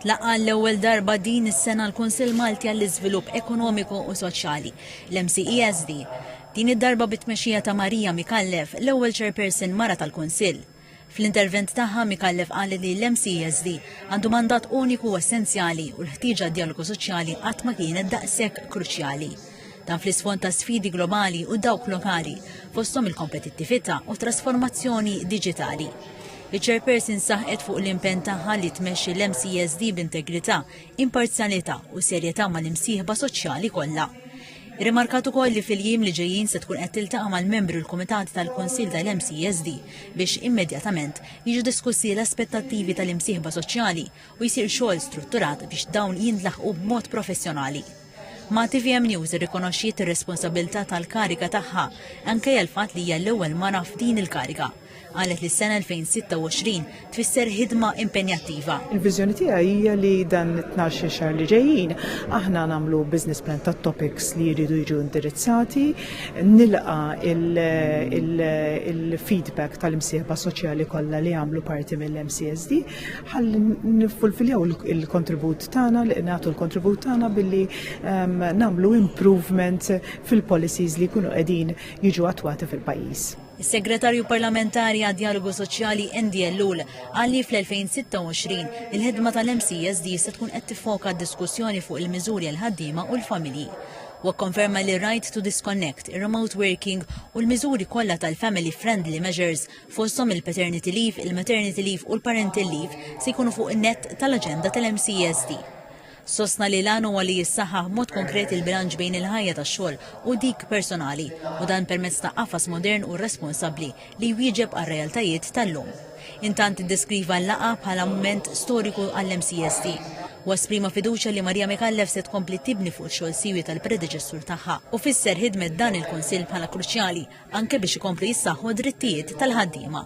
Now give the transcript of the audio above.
Tlaqa' għall-ewwel darba din is-sena l-Kunsill Malti għall-Iżvilupp Ekonomiku u Soċjali, l-MCESD. Din id-darba bit-tmexxija ta' Maria Micallef, l-ewwel Chairperson mara tal-Kunsill. Fl-intervent tagħha, Micallef qalet li l-MCESD għandu mandat uniku u essenzjali u l-ħtieġa għad-djalogu soċjali qatt ma kienet daqshekk kruċjali. Dan fl-isfond ta' sfidi globali u dawk lokali, fosthom il-kompetittività u trasformazzjoni diġitali. Iċ-Chairperson saħqet fuq l-impenn tagħha li tmexxi l-MCSD b'integrità, imparzjalità u serjetà mal-imsieħba soċjali kollha. Irrimarkat ukoll li fil-jiem li ġejjin se tkun qed tiltaqa' mal-membri u l-kumitati tal-Kunsill tal-MCSD biex immedjatament jiġu diskussi l-aspettattivi tal-imsieħba soċjali u jsir xogħol strutturat biex dawn jintlaħqu b'mod professjonali. Ma' tvm News irrikonoxxiet ir-responsabbiltà tal-kariga tagħha, ankejja l-fatt li hija l-ewwel mara f'din il-kariga. Qalet li s-sena 2026 tfisser ħidma impenjattiva. Il-viżjoni tiegħi hija li dan it-tnax-il xahar li ġejjin aħna nagħmlu business plan tat-topics li jridu jiġu indirizzati, nilqa' il-feedback tal-imsieħba soċjali kollha li jagħmlu parti mill-MCSD. ħalli nifulfiljaw il-kontribut tagħna li nagħtu l-kontribut tagħna billi ehm, nagħmlu improvement fil-policies li jkunu qegħdin jiġu attwati fil-pajjiż. Is-Segretarju Parlamentari għad Dialogu Soċjali Endi Ellul għalli fl-2026 il-ħidma tal-MCSD se tkun qed tifoka diskussjoni fuq il-miżuri għal ħaddiema u l-familji. Wa konferma li right to disconnect, remote working u l-miżuri kollha tal-family friendly measures fosthom il-paternity leave, il-maternity leave u l-parental leave, se jkunu fuq in-nett tal-aġenda tal-MCESD. Sostna li l-għan huwa li jissaħħaħ b'mod konkret il-bilanċ bejn il-ħajja tax-xogħol u dik personali, u dan permezz ta' qafas modern u responsabbli li jwieġeb għar-realtajiet tal-lum. Intant iddeskriva l-laqgħa bħala mument storiku għall-MCESD, u esprima fiduċja li Marija Micallef se tkompli tibni fuq ix-xogħol siwi tal-predeċessur tagħha, u fisser ħidmet dan il-Kunsill bħala kruċjali anke biex ikomplu jissaħħu d-drittijiet tal-ħaddiema.